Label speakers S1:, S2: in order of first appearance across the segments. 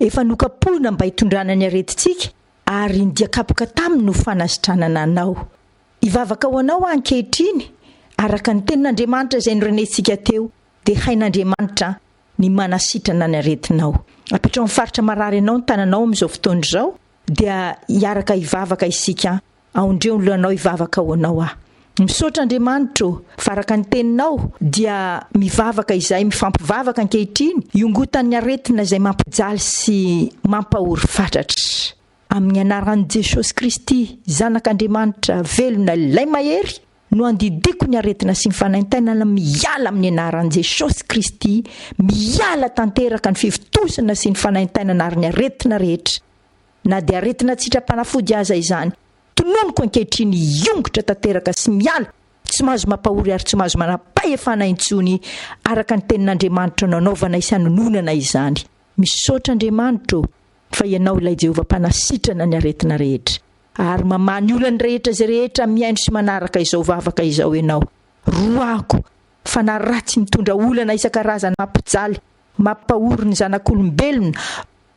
S1: Efa nokapohina mba hitondrana ny aretintsika, ary ny dia kapoka taminy no fanasitranana anao. Hivavaka ho anao aho ankehitriny, araka ny Tenin'Andriamanitra izay norenesintsika teo, dia hain'Andriamanitra ny manasitrana ny aretinao. Apetraho amin'ny faritra marary anao ny tananao amin'izao fotoana izao, dia hiaraka hivavaka isika Aondreo ny lohanao hivavaka ho anao aho. Misaotra Andriamanitra ô, fa araka ny teninao dia mivavaka izahay mifampivavaka ankehitriny hiongotan'ny aretina izay mampijaly sy mampahory fatratra. Amin'ny anaran'i Jesosy Kristy zanak'Andriamanitra velona ilay mahery no andidiako ny aretina sy ny fanaintainana miala amin'ny anaran'i Jesosy Kristy, miala tanteraka ny fivontosana sy ny fanaintainana ary ny aretina rehetra. na dia aretina tsy hitra-panafody aza izany, tononiko ankehitriny hiongotra tanteraka sy miala, tsy mahazo mampahory ary tsy mahazo manam-pahefana intsony araka ny tenin'Andriamanitra nanaovanay sy hanononanay izany. Misaotra Andriamanitra ô, fa Ianao ilay Jehovah Mpanasitrana ny aretina rehetra, ary mamaha ny olany rehetra izay rehetra mihaino sy manaraka izao vavaka izao Ianao. Roahako, fanahy ratsy mitondra olana isan-karazany mampijaly, mampahory ny zanak'olombelona,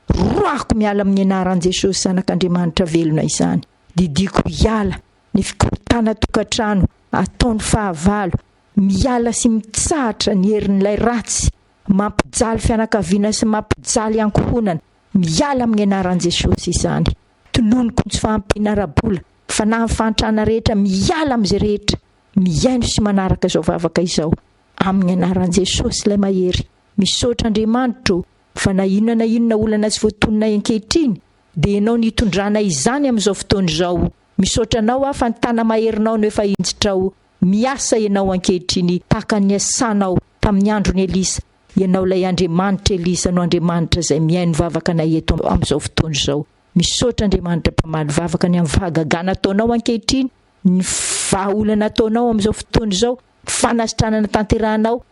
S1: Roahiko miala amin'ny anaran'i Jesosy zanak'Andriamanitra velona izany. Didiako hiala ny fikorontanan tokantrano ataony fahavalo, miala sy mitsahatra ny herin'ilay ratsy mampijaly fianakaviana sy mampijaly ankohonana, miala amin'ny anaran'i Jesosy izany. Tononiko ny tsy fahampiana ara-bola, fanahin'ny fahantrana rehetra miala amin'izay rehetra. Mihaino sy manaraka izao vavaka izao amin'ny anaran'i Jesosy ilay mahery. Misaotra Andriamanitra o, Fa na inona na inona olana tsy voatononay ankehitriny, dia Ianao no itondranay izany amin'izao fotoana izao. Misaotra Anao aho fa ny tana-maherinao no efa injitrao. Miasa Ianao ankehitriny tahaka ny niasanao tamin'ny andron'i Elisa. Ianao ilay Andriamanitr'i Elisa no Andriamanitra izay mihaino vavaka anay eto amin'izao fotoana izao. Misaotra Andriamanitra mpamaly vavaka ny amin'ny fahagagana ataonao ankehitriny, ny vahaolana ataonao amin'izao fotoana izao, ny fanasitranana tanterahanao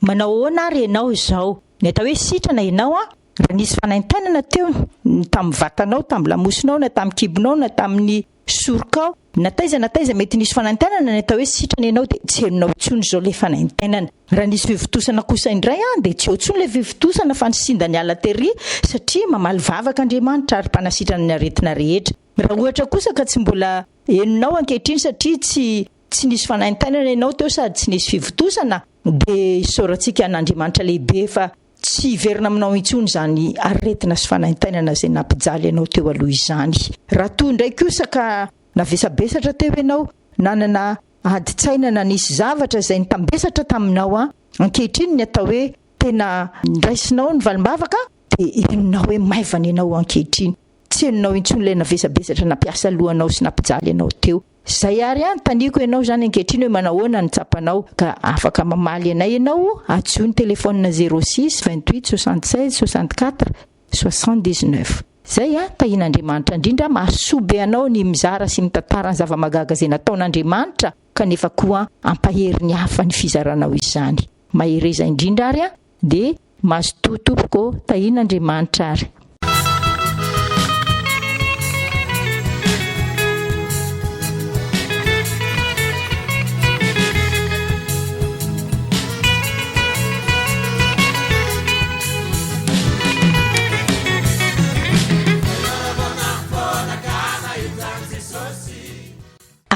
S1: Manao ahoana ary ianao izao? Ny atao hoe sitrana ianao an! Raha nisy fanaintainana teo, ny tamin'ny vatanao, tamin'ny lamosinao, na tamin'ny kibonao, na tamin'ny sorokao, na taiza na taiza mety nisy fanaintainana ny atao hoe sitrana ianao dia tsy henonao intsony izao ilay fanaintainana. Raha nisy fivontosana kosa indray an, dia tsy eo intsony ilay fivontosana fa ny sinda niala tery satria mamaly vavaka Andriamanitra ary Mpanasitrana ny aretina rehetra. Raha ohatra kosa ka tsy mbola henonao ankehitriny satria tsy tsy nisy fanaintainana ianao teo sady tsy nisy fivontosana, dia isaorantsika an'Andriamanitra lehibe fa tsy hiverina aminao intsony izany aretina sy fanaintainana izay nampijaly anao teo aloha izany. Raha toa indray kosa ka navesabesatra teo ianao, nanana adin-tsaina na nisy zavatra izay nitambesatra taminao, ankehitriny ny atao hoe tena niraisinao ny valim-bavaka dia henonao hoe maivana ianao ankehitriny. Tsy henonao intsony ilay navesabesatra nampiasa lohanao sy nampijaly anao teo. Izay ary hanontaniako ianao izany ankehitriny hoe manahoana no tsapanao ka afaka mamaly anay ianao hadisoa ny telefaonina zéro six vingt huit soixante seize soixante quatre soixante dix neuf. Izay an, tahian'Andriamanitra indrindra mahasoa be anao ny mizara sy mitantara ny zava-magaga izay nataon'Andriamanitra kanefa koa ampahery ny hafa ny fizaranao izany. Mahereza indrindra ary an, dia Mazotoa tompoko ô, tahiana Andriamanitra ary.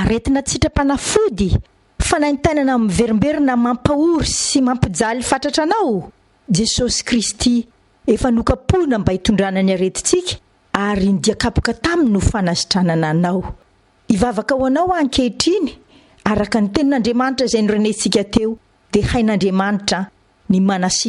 S1: Aretina tsy sitrapanafody? Fanaintainana miverimberina mampahory sy mampijaly fatratra anao, Jesosy Kristy, efa nokapohina mba hitondrana ny aretintsika, ary ny dia kapoka taminy no fanasitranana anao. Hivavaka ho anao aho ankehitriny, araka ny tenin'Andriamanitra izay norenehintsika teo, dia hain'Andriamanitra ny manasitrana.